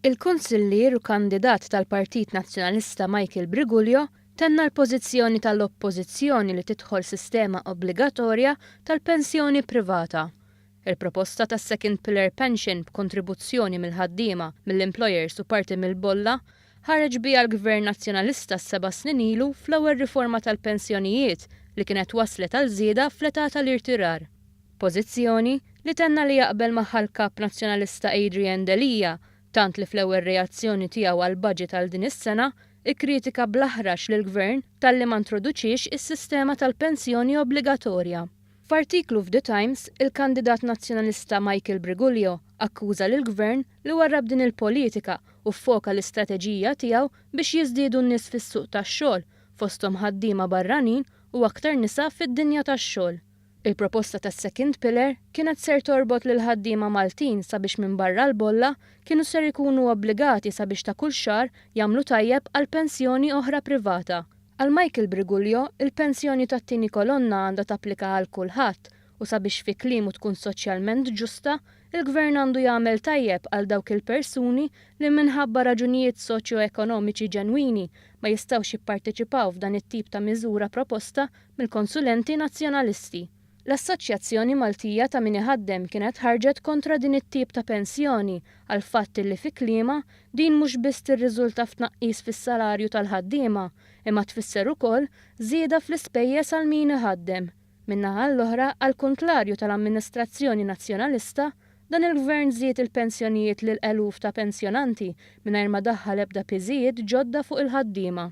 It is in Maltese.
Il-Kunsillier u kandidat tal-Partit Nazzjonalista Michael Briguglio tenna l-pożizzjoni tal-Oppożizzjoni li tidħol sistema obbligatorja tal-pensjoni privata. Il-proposta ta' second pillar pension b'kontribuzzjoni mill-ħaddiema, mill-employers u parti mill-bolla ħareġ biha l-Gvern Nazzjonalista seba' snin ilu fl-ewwel riforma tal-pensjonijiet li kienet wasslet għal żieda fl-età tal-irtirar. Pożizzjoni li tenna li jaqbel magħha l-Kap Nazzjonalista Adrian Delia tant li fl-ewwel reazzjoni tiegħu għall-budget għal din is-sena kkritika bl-aħrax lill-Gvern talli ma ntroduċiex is-sistema tal-pensjoni obbligatorja. F'artiklu f'The Times, il-kandidat Nazzjonalista Michael Briguglio akkuża lill-Gvern li warrab din il-politika u ffoka l-istrateġija tiegħu biex jiżdiedu n-nies fis-suq tax-xogħol, fosthom ħaddiema barranin u aktar nisa fid-dinja tax-xogħol. Il-proposta tas-second pillar kienet ser torbot lill-ħaddiema Maltin sabiex minbarra l-bolla kienu ser ikunu obbligati sabiex ta' kull xahar jagħmlu tajjeb għal pensjoni oħra privata. Għal Michael Briguglio, il-pensjoni tat-tieni kolonna għandha tapplika għal kulħadd u sabiex fi kliemu tkun soċjalment ġusta, il-Gvern għandu jagħmel tajjeb għal dawk il-persuni li minħabba raġunijiet soċjo-ekonomiċi ġenwini ma jistgħux jipparteċipaw f'dan it-tip ta' miżura proposta mill-konsulenti Nazzjonalisti. L-Assoċjazzjoni Maltija ta' Min Iħaddem kienet ħarġet kontra din it-tip ta' pensjoni għall-fatt li fi kliemha din mhux biss tirriżulta f'tnaqqis fis-salarju tal-ħaddiema imma tfisser ukoll żieda fl-ispejjeż għal min iħaddem. Min-naħa l-oħra, għall-kuntlarju tal-amministrazzjoni Nazzjonalista, dan il-Gvern żied il-pensjonijiet lil eluf ta' pensjonanti mingħajr ma daħħal ebda piżijiet ġodda fuq il-ħaddiema.